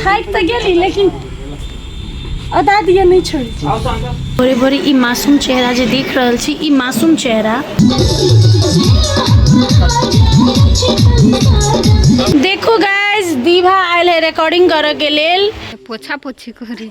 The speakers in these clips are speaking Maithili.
थाकि तऽ गेली लेकिन अदा दिए नहि छोड़ै छी भोरे भोरे ई मासूम चेहरा जे देख रहल छी ई मासूम चेहरा देखू गाइस दीभा आयल है रिकॉर्डिंग करऽ के लेल पोछा पोछी करी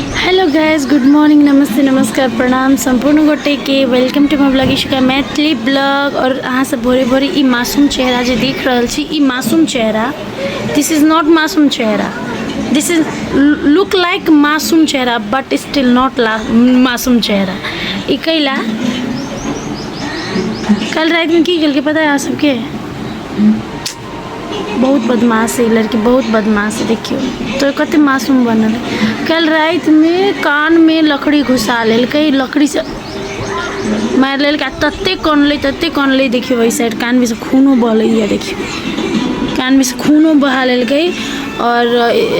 हेलो गाइस गुड मॉर्निंग नमस्ते नमस्कार प्रणाम सम्पूर्ण गोटे के welcome to my blog Ishuka Maithili blog और अहाँ सब भोरे भोरे ई मासूम चेहरा जे देख रहल छी ई मासूम चेहरा दिस इज नॉट मासूम चेहरा दिस इज लुक लाइक मासूम चेहरा बट स्टिल नॉट मासूम चेहरा ई कैला कल रात में की कल के पता है अहाँ सबके बहुत बदमाश है ई लड़की बहुत बदमाश है देखियो तो कते मासूम बनल है। कल रात में कान में लकड़ी घुसा लेलकै लकड़ी से मारि लेलकै आ तते कनलै तते कनलै देखियो एहि साइड कान में से खूनो बहलैया देखियो कान में से खूनो बहा लेलकै और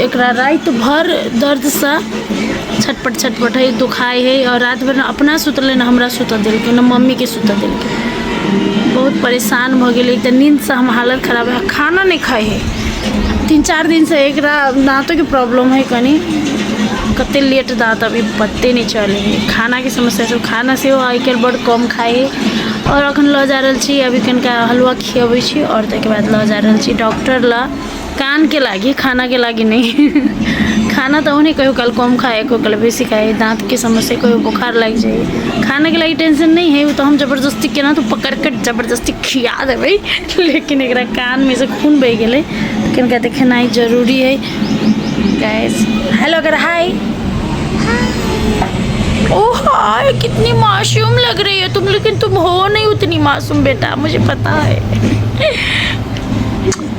एकरा रात भर दर्द से छटपट छटपट है दुखाय है और रात भर न अपना सुतले न हमरा सुतऽ देलकै न मम्मी के सुतऽ देलकै बहुत परेशान भऽ गेलै तऽ नींदसँ हम हालत खराब है खाना नहि खाइ है तीन चारि दिनसँ एकरा दाँतोके प्रॉब्लम है कनि कते लेट दाँत अभी पते नहि चलै है खानाके समस्या छै खाना सेहो आइ काल्हि बड कम खाइ है आओर अखन लऽ जा रहल छी अभी कनिका हलुआ खियबै छी आओर ताहिके बाद लऽ जा रहल छी डॉक्टर लग कानके लागि खानाके लागि नै खाना त आउने कहियो काल कम खाए कहियो काल बेसी खाए दाँतके समस्या कहियो बोखार लागि जाइए खानाके लागि टेंशन नहि है ओ तऽ हम जबरदस्ती केना तऽ पकड़िके जबरदस्ती खिया देबै लेकिन एकरा कानमे से खून बहि गेलै कनिका तऽ खेनाइ जरूरी है गैस हेलो अगर हाय ओह हाय कितनी मासूम लग रही है तुम लेकिन तुम हो नहीं उतनी मासूम बेटा मुझे पता है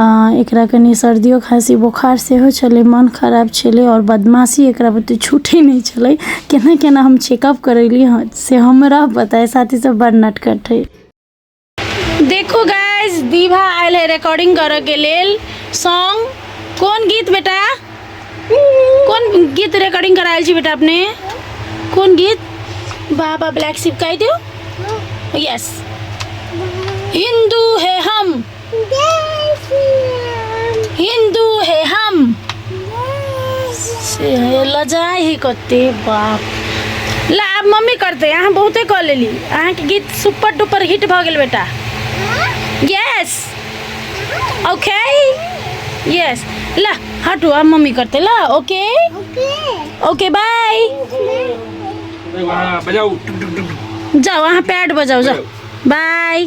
आ एकरा कनी सर्दियो खांसी बोखार सेहो छलै मन खराब छलै आओर बदमाशी एकरा बुते छूटै नहि छलै केना केना हम चेकअप करैली हँ से हमरा पता है साथ ही सब बड़ नटखट है देखू गाइस दीभा आयल है रिकॉर्डिंग करऽ के लेल सॉन्ग कोन गीत बेटा कोन गीत रिकॉर्डिंग करायल छी बेटा अपने कोन गीत बाबा ब्लैक शिप कहि दियौ यस हिंदू है हम हिन्दू हे हम से लजाइ ही कते बाप ला आब मम्मी करते अहाँ बहुते कऽ लेली अहाँके गीत सुपर डुपर हिट भऽ गेल बेटा यस ओके यस ला हटू आब मम्मी करते ला ओके ओके बाय बजाऊ जाओ अहाँ पैड बजाओ जाओ बाय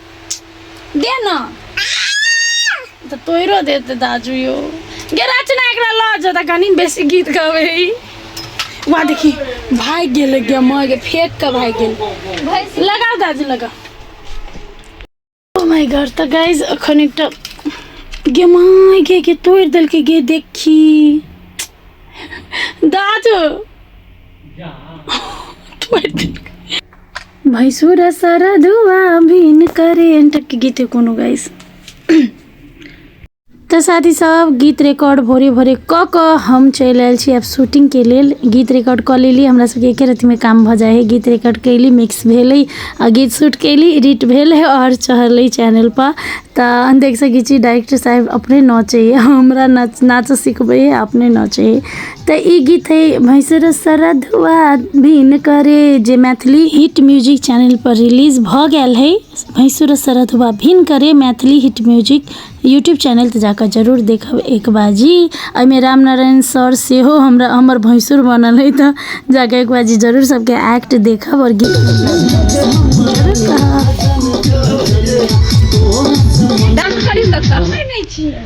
दे ना तऽ तोरो देते दाजू यो गे रचना एकरा लऽ जो तऽ कनी बेसी गीत गावे ई वहाँ देखी भागि गेल गे माँ गे फेंक के भागि गेल भैंस लगाओ दाजू लगाओ ओ माय गॉड तऽ गाइज एखन एकटा गे माँ गे गे तोड़ि देलकै गे देखी दाजू तोड़ि देलकै भैंसुर सरधुआ भिन करे एंटक गीत कोनो गाइस तो साथी सब गीत रिकॉर्ड भोरे भोरे क क हम चल आयल छी अब शूटिंग के लेल गीत रिकॉर्ड क लेली हमरा सबके एक रत्ती में काम भ जाए है गीत रिकॉर्ड कैली मिक्स भेल आ गीत शूट कैली एडिट भेल है और चढ़ल चैनल पर तो देख सके डायरेक्टर साहब अपने नचे हमरा नाच नाच सिखबे है अपने नचे है तऽ ई गीत है भैंसर सरधुआ भिन करे जे मैथिली हिट म्यूजिक चैनल पर रिलीज भऽ गेल है भैंसुर सरधुआ भिन करे Maithili hit music YouTube channel तऽ जाकऽ जरूर देखब एक बाजी एहिमे राम नारायण सर सेहो हमरा हमर भैंसुर बनल है तऽ जाकऽ एक बाजी जरूर सबके एक्ट देखब और गीत जरूर कहब। डांस करी सकता है नहीं चाहिए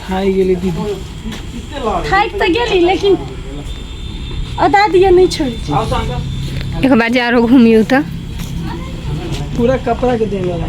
खाइ गेलै दीदी खाइके तऽ गेली लेकिन अदा दिए नहि छोड़ी एक बार जा रहो घूमियो तो पूरा कपड़ा के देने रहा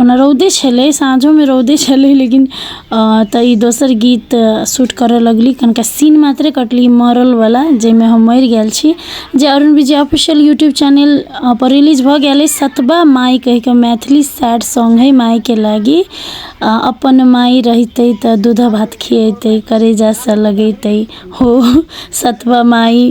ओना रौदे छलै साँझोमे रौदे छलै लेकिन तऽ ई दोसर गीत सूट करऽ लगली कनिका सीन मात्रे कटली मरलवला जाहिमे हम मरि गेल छी जे अरुण विजय ऑफिशियल यूट्यूब चैनलपर रिलीज भऽ गेल अछि सतबा माइ कहिकऽ मैथिली सैड सॉन्ग हइ माइके लागी अपन माइ रहितै तऽ दूधऽ भात खिएतै करेजासँ लगेतै हो सतबा माइ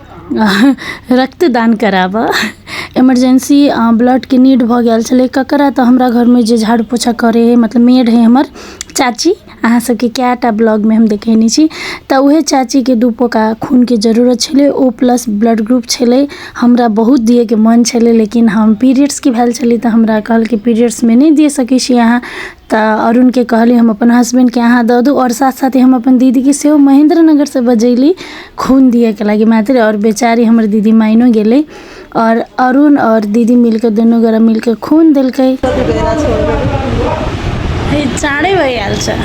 रक्तदान कराबऽ इमरजेन्सी ब्लडके नीड भऽ गेल छलै ककरा तऽ हमरा घरमे जे झाड़ू पोछा करै हइ मतलब मेड हइ हमर चाची अहाँ सबके कए टा ब्लॉगमे हम देखेने छी तऽ उहे चाचीके दू पोका खूनके जरूरत छलै ओ प्लस ब्लड ग्रुप छलै हमरा बहुत दियेके मन छलै लेकिन हम पीरियड्सके भेल छलै तऽ हमरा कहलकै पीरियड्समे नहि दे सकै छी अहाँ तऽ अरुणके कहली हम अपन हसबैंडके अहाँ दऽ दू आओर साथ साथे हम अपन दीदीके सेहो महेन्द्र नगरसँ बजयली खून दियैके लागी मैथिली आओर बेचारी हमर दीदी माइनो गेलै आओर अरुण आओर दीदी मिलि कऽ दुनू गोरा मिलि कऽ खून देलकै हे चारे बजे आयल छै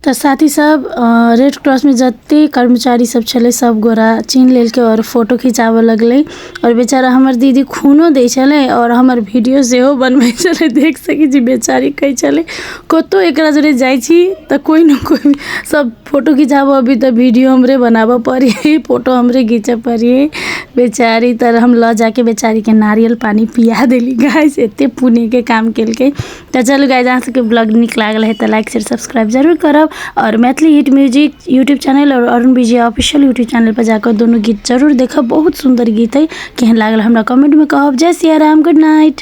तऽ साथी सब अ, रेड क्रॉसमे जते कर्मचारी सब छलै सब गोरा चिन्ह लेलकै आओर फोटो खिंचाबऽ लगलै आओर बेचारा हमर दीदी खूनो दै छलै आओर हमर वीडियो सेहो बनबै छलै देख सकै छी बेचारी कहै छलै कतहु एकरा जरे जाइ छी तऽ कोइ ने कोइ सभ फोटो घिचाबऽ अभी तऽ वीडियो हमरे बनाबऽ पड़ै हइ फोटो हमरे घिचऽ पड़ै हइ बेचारी तऽ हम लऽ जाके बेचारीके नारियल पानि पिया देली गाय से एतेक पुण्यके काम केलकै तऽ चलू गाइज अहाँ सबके ब्लॉग नीक लागल है तऽ लाइक शेयर सब्सक्राइब जरूर करब और Maithili hit music YouTube channel और Arun Vijay official YouTube channel पर जाकर दोनों गीत जरूर देखब बहुत सुंदर गीत है केहन लागल हमरा कमेंट में कहब जय सिया राम गुड नाइट